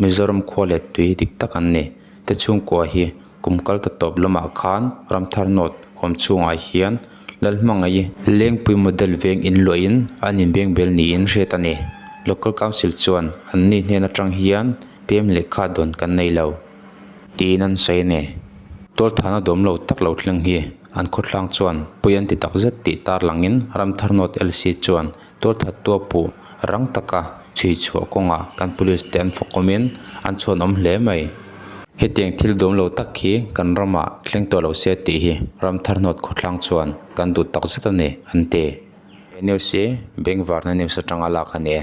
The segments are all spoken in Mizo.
Mizoram khua let tui dik tak an ni. Te chhungkua hi kum kal ta tawp lamah khan Ramthar North hawm chhungah hian lal hmangaih Lengpui model veng in luahin an inbeng bel niin hriat a ni. Local Council chuan an ni hnen atang hian PM leh kha dawn kan nei lo tiin an sawi a ni. Tualthana dawm lo tak lo thleng hi an khawthlang chuan pui an ti takzet tih tarlangin Ramthar North LC chuan Tual thattua pu rang taka chhui chhuah kawngah kan police te an fawkawmin an chhuanawm hle mai. Hetiang thil dum lo tak hi kan rama thleng tawh lo se tih hi ram tharhnawt khawthlang chuan kan duh takzet a ni, an ti. He news hi Bengvarna News atanga lak a ni e.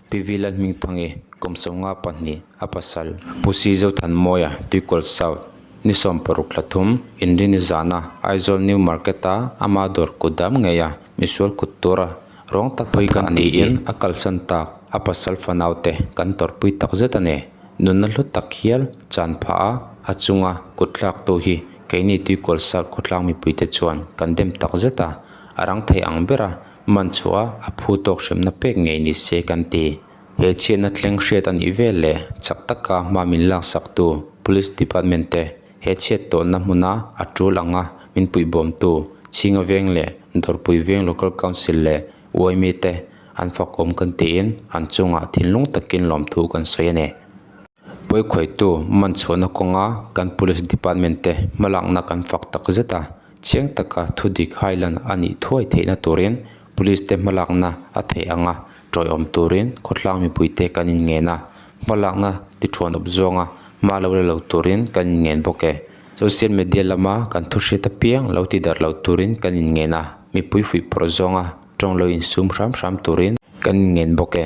Pivi Lanhmingthangi, kum sawm nga pahnih, a pasal. Pusi Zothanmawia, Tuikawlh South, ni sawm paruk thla thum, inri ni zana, Aizawl New Market a, ama dawr kut dam ngei a, misual kut tur a, rawng tak hawih ka ani in a kalsan tak, a pasal fanau te kan tawrhpui tak zet a ni, nunna hlu tak hial, chan phah a, a chunga kut thlaktu hi keini Tuikawlh South khawtlang mipuite chuan kan dem tak zet a, a rang thei ang ber a, man chhuah a, a phu tawk hremna pek ngei ni se kan ti. He chhiatna thleng hriat a nih vel leh chak taka hma min laksaktu Police Department te, he chhiat tawnna hmuna a tul anga min puih bawmtu Chhingaveng leh Dawrpui Veng Local Council leh uai mi te an fakawm kan tiin an chungah thinlung takin lawmthu kan sawi a ni. Pawikhawitu man chhuahna kawnga kan Police Department te hmalakna kan fak takzet a. Chiang taka thu dik hailan a nih thuai theihna turin Police te hmalakna a theih ang a, tawihawm turin khawtlang mipui te kan inngen a, hmalakna tiṭhuanawp zuanga hma lo la lo turin kan inngen bawk e. Social media lama kan thu hriat apiang lo ti darh lo turin kan inngen a, mipui fuihpawrh zuanga ṭawng lo insum hram hram turin kan inngen bawk e.